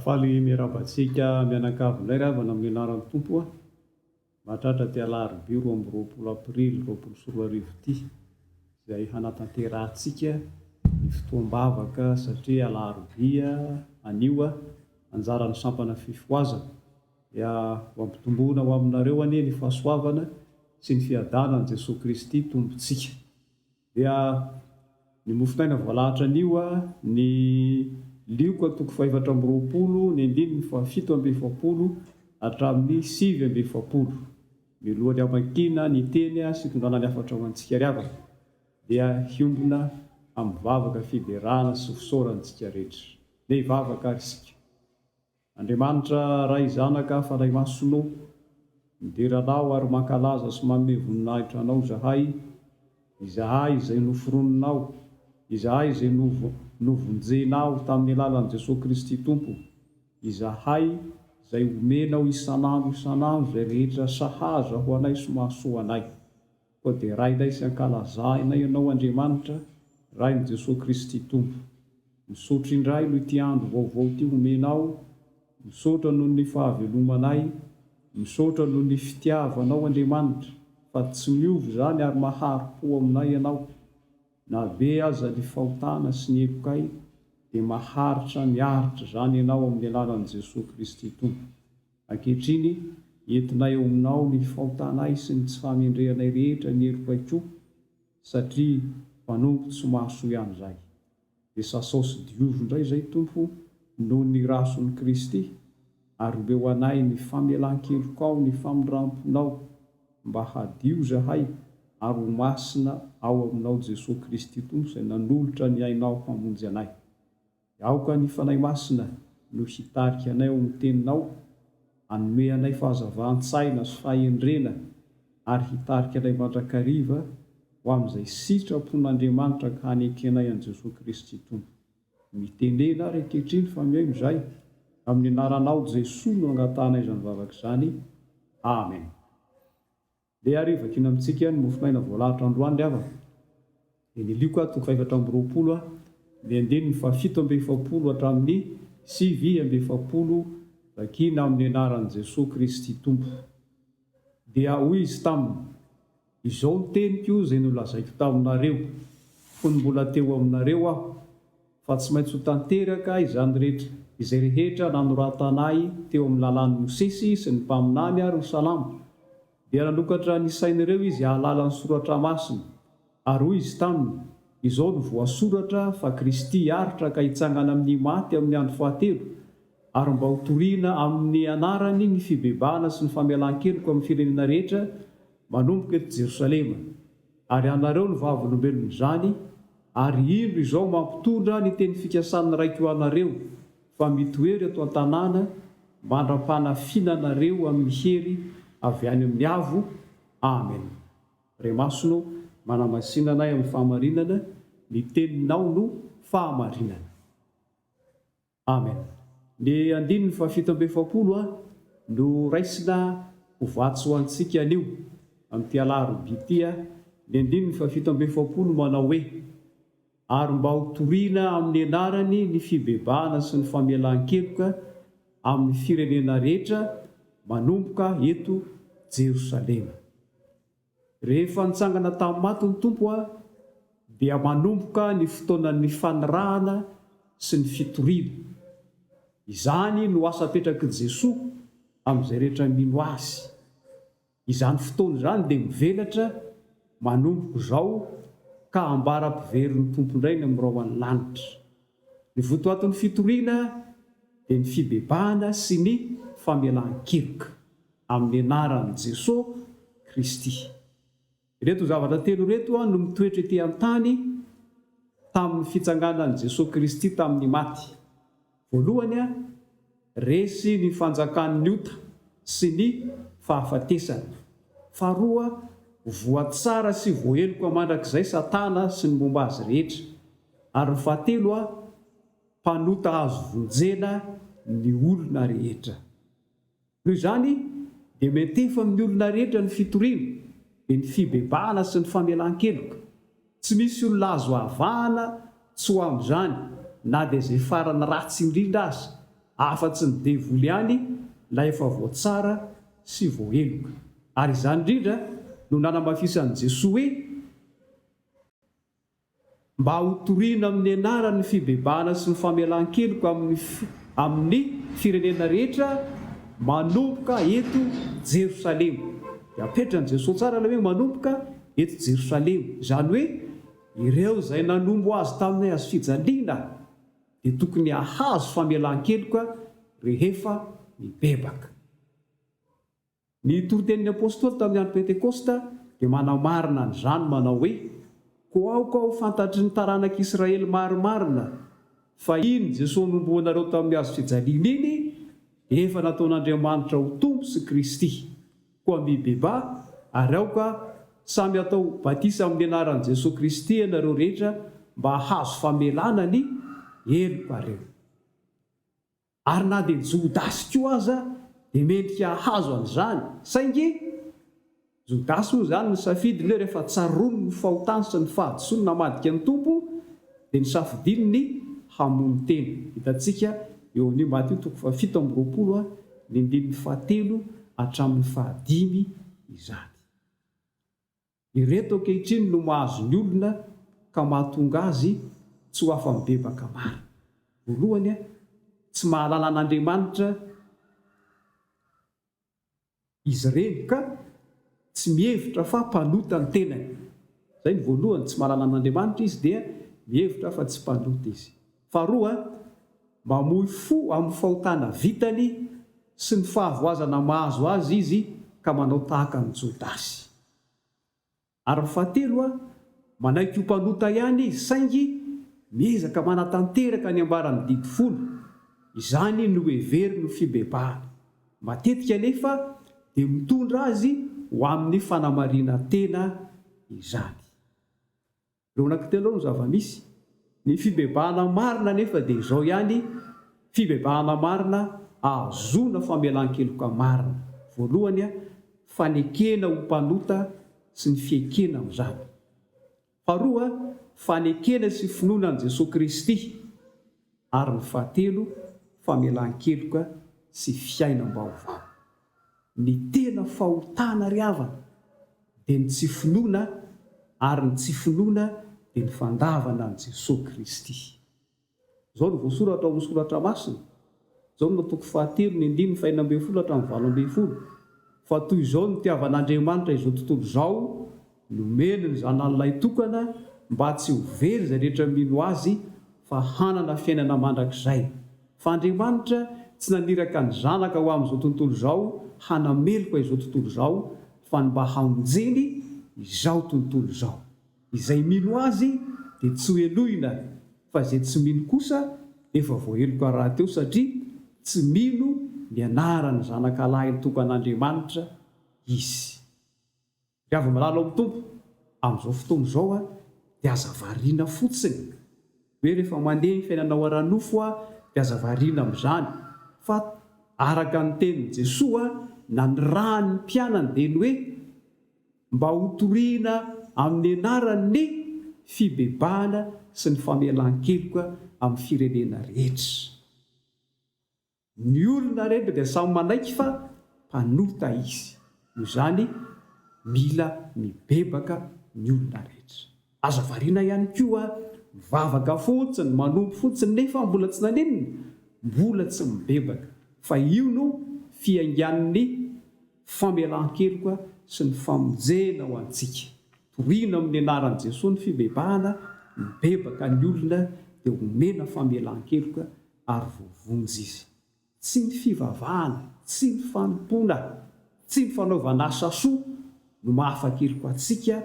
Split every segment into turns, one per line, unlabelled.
Faly miarahaba antsika mianakavy indray ry havana amin'ny anaran'ny Tompo a! Mahatratra ity alarobia roa amby roapolo aprily roapolo sy roa arivo ity izay hanatanterahantsika ny fotoam-bavaka satria alarobia anio a! Anjaran'ny sampana fifohazana dia ho ampitomboina ho aminareo anie ny fahasoavana sy ny fiadanan'i Jesoa Kristy Tompontsika. Dia ny mofotaina voalahatra anio a, ny lioka antoko fahefatra amby roapolo, ny andininy fahafito amby efapolo hatramin'ny sivy amby efapolo. Miloha ny hamakiana ny teny sy hitondrana ny hafatra ho antsika ry havana, dia hiombona amin'ny vavaka fiderana sy fisaorana isika rehetra. Ndeha hivavaka ary isika. Andriamanitra Ray Zanaka Fanahy Masina ô, midera Anao ary mankalaza sy manome voninahitra Anao izahay, izahay izay noforoninao, izahay izay novo, novonjenao tamin'ny alalan'i Jesoa Kristy Tompo, izahay izay omenao isan'andro isan'andro izay rehetra sahaza ho anay sy mahasoa anay. Koa dia rainay sy ankalazainay Ianao Andriamanitra, Rain'i Jesoa Kristy Tompo. Misaotra indray noho ity andro vaovao ity homenao, misaotra noho ny fahavelomanay, misaotra noho ny fitiavanao Andriamanitra fa tsy miova izany ary mahari-po aminay Ianao. Na be aza ny fahotana sy ny hepokay dia maharitra miaritra izany Ianao amin'ny alalan'i Jesoa Kristy Tompo. Ankehitriny, entinay ao Aminao ny fahotanay sy ny tsy fahamendrehanay rehetra ny herim-paikom, satria mpanompo tsy mahasoa ihany izahay. Dia sasao sy diovy indray izay Tompo noho ny Rason'i Kristy, ary omeo anay ny famelan-kelokao ny famindram-ponao, mba hadio izahay ary ho masina ao Aminao Jesoa Kristy Tompo izay nanolotra ny ainao hamonjy anay. Aoka ny Fanahy Masina no hitarika anay ao amin'ny Teninao, hanome anay fahazavan-tsaina sy fahendrena ary hitarika anay mandrakariva ho amin'izay sitrapon'Andriamanitra ka hanekenay an'i Jesoa Kristy Tompo. Mitenena ary ankehitriny fa mihaino izahay. Amin'ny Anaranao Jesoa no angatahanay izany vavaka izany. Amen. Ndeha ary vakiana amintsika ny mofonaina voalahatra androany ry havana. Dia nilioko aho toko fahefatra amby roapolo aho, ny andininy fahafito amby efapolo hatramin'ny sivy amby efapolo vakiana amin'ny anaran'i Jesoa Kristy Tompo. Dia hoy Izy taminy, Izao ny teniko izay nolazaiko taminareo, fony mbola teo aminareo Aho. fa tsy maintsy ho tanteraka izany rehetra, izay rehetra nanoratanay teo amin'ny lalàn'i Mosesy sy ny mpaminany ary ho salama. Dia nanokatra ny sain'ireo izy hahalala ny soratra masina, ary hoy izy taminy, Izao no voasoratra fa Kristy hiaritra ka hitsangana amin'ny maty amin'ny andro fahatelo, ary mba ho toriana amin'ny anarany ny fibebahana sy ny famelan-keloka amin'ny firenena rehetra, manomboka eto Jerosalema. Ary anareo no vavolombelon'izany, ary indro izao mampitondra ny teny fikasan'ny Raiko ho anareo, fa mitoery eto an-tanàna mandra-panafinana anareo amin'ny hery avy any amin'ny Avo. Amen. Re Masina ô, manamasina anay amin'ny fahamarinana, ny Teninao no fahamarinana. Amen. Ny andininy fahafito amby efapolo a no raisina ho vatsy ho antsika anio amin'ity alarobia ity a, ny andininy fahafito amby efapolo manao hoe, Ary mba ho toriana amin'ny anarany ny fibebahana sy ny famelan-keloka amin'ny firenena rehetra manomboka eto Jerosalema. Rehefa nitsangana tamin'ny maty ny Tompo aho, dia manomboka ny fotoanan'ny fanirahana sy ny fitoriana. Izany no asa apetrak'i Jesoa amin'izay rehetra mino Azy. Izany fotoana izany dia mivelatra manomboka izao ka ambara-piverin'ny Tompo indray ny amin'irao any lanitra. Ny votoatin'ny fitoriana dia ny fibebahana sy ny famelan-keloka amin'ny anaran'i Jesoa Kristy. Ireto zavatra telo ireto no mitoetra ety an-tany tamin'ny fitsanganan'i Jesoa Kristy tamin'ny maty. Voalohany, Resy ny fanjakan'ny ota sy ny fahafatesana. Faharoa, voa tsara sy voaheloka mandrakizay Satana sy ny momba azy rehetra. Ary ny fahatelo, mpanota azo vonjena ny olona rehetra. Noho izany, dia miantefa amin'ny olona rehetra ny fitoriana, dia ny fibebahana sy ny famelan-keloka. Tsy misy olona azo avahana tsy ho amin'izany na dia izay farany ratsy indrindra aza, afa-tsy ny devoly ihany ilay efa voatsara sy voaheloka. Ary izany indrindra no nanamafisan'i Jesoa hoe, Mba hotorina amin'ny anarany ny fibebahana sy ny famelan-keloka amin'ny amin'ny firenena rehetra manomboka eto Jerosalema. Dia apetrany Jesoa tsara ilay hoe manomboka Eto Jerosalema, izany hoe ireo izay nanompo azy tamin'ny hazofijaliana, dia tokony hahazo famelan-keloka rehefa mibebaka. Ny toritenin'ny apostoly tamin'ny andro Pentekosta dia manamarina an'izany manao hoe, Koa aoka ho fantatry ny taranak'Israely marimarina fa iny Jesosy nompoanareo tamin'ny hazofijaliana iny dia efa nataon'Andriamanitra ho Tompo sy Kristy. Koa mby beba ary aoka samy atao batisa amin'ny anaran'i Jesoa Kristy ianareo rehetra mba hahazo famelana ny helokareo. Ary na dia Jodasy koa aza dia mendrika hahazo an'izany, saingy Jodasy moa izany nisafidy ny hoe rehefa tsaroany ny fahotany sy ny fahadisoany namadika ny Tompo, dia nosafidiany ny hamono tena. Hitantsika eo amin'io Matio toko fahafito amby roapolo a, ny andininy fahatelo hatramin'ny fahadimy izany. Ireto ankehitriny no mahazo ny olona ka mahatonga azy tsy ho afa-mibebaka marina. Voalohany a, tsy mahalala an'Andriamanitra. Izy ireny ka tsy mihevitra fa mpanota ny tenany. Izay ny voalohany, tsy mahalala an'Andriamanitra izy dia mihevitra fa tsy mpanota izy. Faharoa, mamoy fo amin'ny fahotana vitany sy ny fahavoazana mahazo azy izy ka manao tahaka an'i Jodasy. Ary ny fahatelo a, manaiky ho mpanota ihany izy saingy miezaka manatanteraka ny ambaran'ny didy folo, izany no heveriny ho fibebahana. Matetika anefa dia mitondra azy ho amin'ny fanamarinan-tena izany. Ireo anaky telo ireo no zava-misy. Ny fibebahana marina anefa dia izao ihany, fibebahana marina ahazoana famelan-keloka marina. Voalohany, fanekena ho mpanota sy ny fiekena amin'izany. Faharoa, fanekena sy finoana an'i Jesoa Kristy. Ary ny fahatelo, famelan-keloka sy fiainam-baovao. Ny tena fahotana ry havana dia ny tsy finoana ary ny tsy finoana dia ny fandavana an'i Jesoa Kristy. Izao no voasoratra ao amin'ny soratra masina, Jaona toko fahatelo ny andininy fahenina ambin'ny folo hatramin'ny valo ambin'ny folo, Fa toy izao no nitiavan'Andriamanitra izao tontolo izao, Nomeny ny Zanany lahitokana mba tsy ho very izay rehetra mino Azy fa hanana fiainana mandrakizay. Fa Andriamanitra tsy naniraka ny Zanaka ho amin'izao tontolo izao hanameloka izao tontolo izao fa ny mba hamonjeny izao tontolo izao. Izay mino Azy dia tsy ho helohina fa izay tsy mino kosa efa voaheloka rahateo satria tsy mino ny anaran'ny Zanaka lahiny tokan'Andriamanitra izy. Ry avy milalao amin'ny Tompo, amin'izao fotoana izao dia aza variana fotsiny hoe rehefa mandeha ny fiainanao ara-nofo dia aza variana amin'izany fa araka ny tenin'i Jesoa nanirahan'ny mpianany dia ny hoe mba hotorihina amin'ny anarany ny fibebahana sy ny famelan-keloka amin'ny firenena rehetra. Ny olona rehetra dia samy manaiky fa mpanota izy, noho izany mila mibebaka ny olona rehetra. Aza variana ihany koa mivavaka fotsiny, manompo fotsiny nefa mbola tsy naninona, mbola tsy mibebaka, fa io no fiaingan'ny famelan-keloka sy ny famonjena ho antsika. Torina amin'ny anaran'i Jesoa ny fibebahana, mibebaka ny olona dia homena famelan-keloka ary voavonjy izy. Tsy ny fivavahana, tsy ny fanompoana, tsy ny fanaovana asa soa no mahafateloka antsika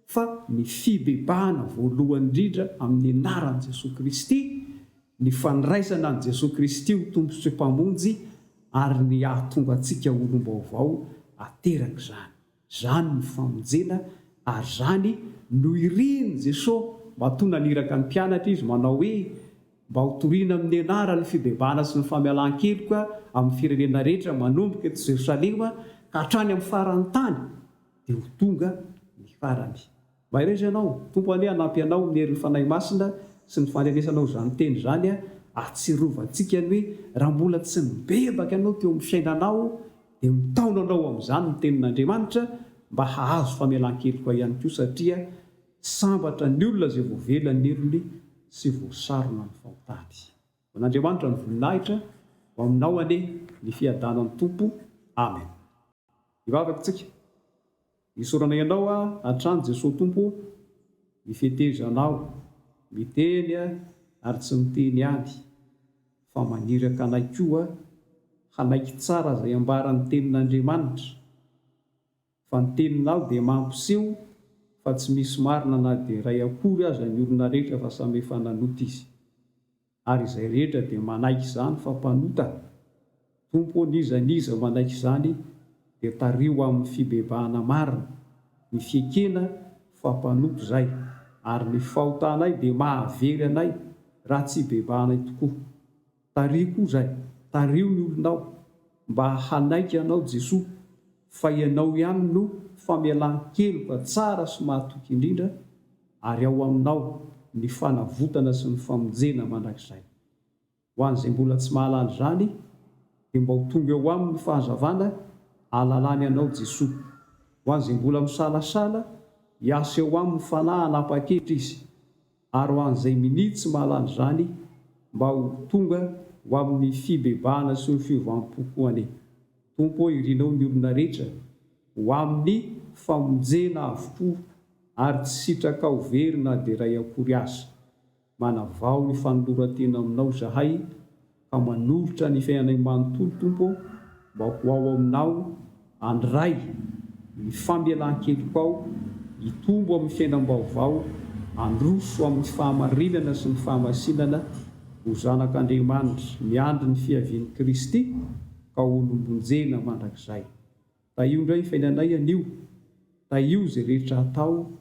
fa ny fibebahana voalohany indrindra amin'ny anaran'i Jesoa Kristy, ny fandraisana an'i Jesoa Kristy ho Tompo sy Mpamonjy ary ny hahatonga antsika olom-baovao aterak'izany. Zany no famonjena ary zany no irin'i Jesoa matoa naniraka ny mpianatra Izy manao hoe, mba ho toriana amin'ny anaran'ny fibebahana sy ny famialan-keloka amin'ny firenena rehetra manomboka eto Jerosalema ka hatrany amin'ny faran'ny tany dia ho tonga ny farany. Mahereza ianao, Tompo anie hanampy anao amin'ny herin'ny Fanahy Masina sy ny faharenesanao izany teny izany a, ahatsirovantsika ny hoe raha mbola tsy nibebaka ianao teo amin'ny fiainanao dia mitaona anao amin'izany ny tenin'Andriamanitra mba hahazo famelan-keloka ahy ihany koa satria sambatra ny olona izay voavela ny helony sy voasarona ny fahotany. Ho an'Andriamanitra ny voninahitra, ho aminao anie ny fiadanan'ny Tompo. Amen. Hivavaka isika. Isaoranay Anao hatrany Jesoa Tompo o, ny fetezanao, miteny ary tsy miteny ihany fa maniraka anay koa hanaiky tsara izay ambaran'ny tenin'Andriamanitra, fa ny teninao dia mampiseho fa tsy misy marina na dia iray akory aza ny olona rehetra fa samy efa nanota izy. Ary izay rehetra dia manaiky izany fa mpanota, Tompo, n'iza n'iza manaiky izany dia tariho amin'ny fibebahana marina, ny fiekena fa mpanompo izay, ary ny fahotanay dia mahavery anay raha tsy bebahanay tokoa. Tariho koa izay, tariho ny olonao mba hanaiky Anao Jesoa, fa Ianao ihany no famelan-keloka tsara sy mahatoky indrindra, ary ao Aminao ny fanavotana sy ny famonjena mandrakizay. Ho an'izay mbola tsy mahalala izany, dia mba ho tonga eo aminy ny fahazavana ahalalany Anao Jesoa. Ho an'izay mbola misalasala, hiasa eo aminy ny Fanahy hanapa-kevitra izy, ary ho an'izay minia tsy mahalala izany, mba ho tonga ho amin'ny fibebahana sy ny fiovam-po koa anie. Tompo ô, irinao ny olona rehetra ho amin'ny famonjena avokoa. ary tsy sitraka aho very na dia iray akory aza. Manavao ny fanoloran-tena aminao izahay ka manolotra ny fiainanay manontolo, Tompo ô, mba ho ao aminao, any Ray, ny famelan-keloko ao, hitombo amin'ny fiainam-baovao, handroso amin'ny fahamarinana sy ny fahamasinana, ho zanak'Andriamanitra miandry ny fiavian'i Kristy ka holombonjena mandrakizay. Tahio indray ny fainanay anio, tahio izay rehetra atao,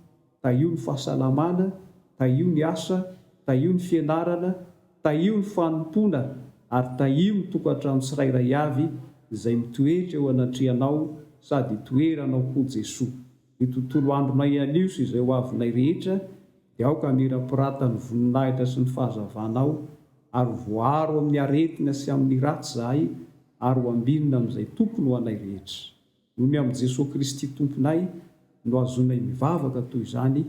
tahio ny fahasalamana, tahio ny asa, tahio ny fianarana, tahio ny fanompoana ary tahio ny tokantrano tsirairay avy izay mitoetra eo anatrehanao sady itoeranao koa Jesoa. Ny tontolo andronay anio sy izay ho avinay rehetra dia aoka hamirapiratan'ny voninahitra sy ny fahazavanao, ary voaro amin'ny aretina sy amin'ny ratsy izahay ary ho ambinina amin'izay tokony ho anay rehetra. Noho ny amin'i Jesoa Kristy Tomponay no ahazoanay mivavaka toy izany,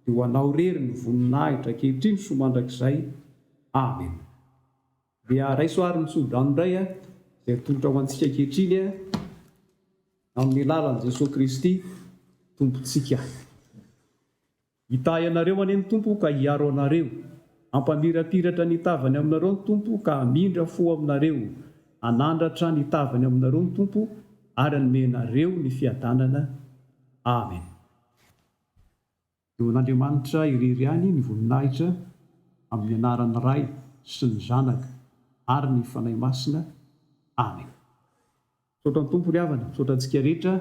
dia ho anao irery ny voninahitra ankehitriny sy ho mandrakizay. Amena. Dia raiso àry ny tsodrano indray, izay atolotra ho antsika ankehitriny amin'ny alalan'i Jesoa Kristy Tompontsika. Hitahy anareo anie ny Tompo ka hiaro anareo. Hampamirapiratra ny tavany aminareo ny Tompo ka hamindra fo aminareo. Hanandratra ny tavany aminareo ny Tompo ary hanome anareo ny fiadanana. Amen. Eo an'Andriamanitra irery ihany ny voninahitra amin'ny anaran'ny Ray sy ny Zanaka ary ny Fanahy Masina. Amen. Misaotra ny Tompo ry havana, misaotra antsika rehetra,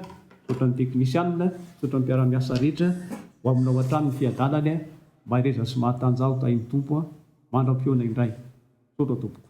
misaotra ny teknisianina, misaotra ny mpiara-miasa rehetra, ho aminao hatrany ny fiadanany, mahereza sy mahatanjaho tahin'ny Tompo, mandra-pihaona indray. Misaotra tompoko.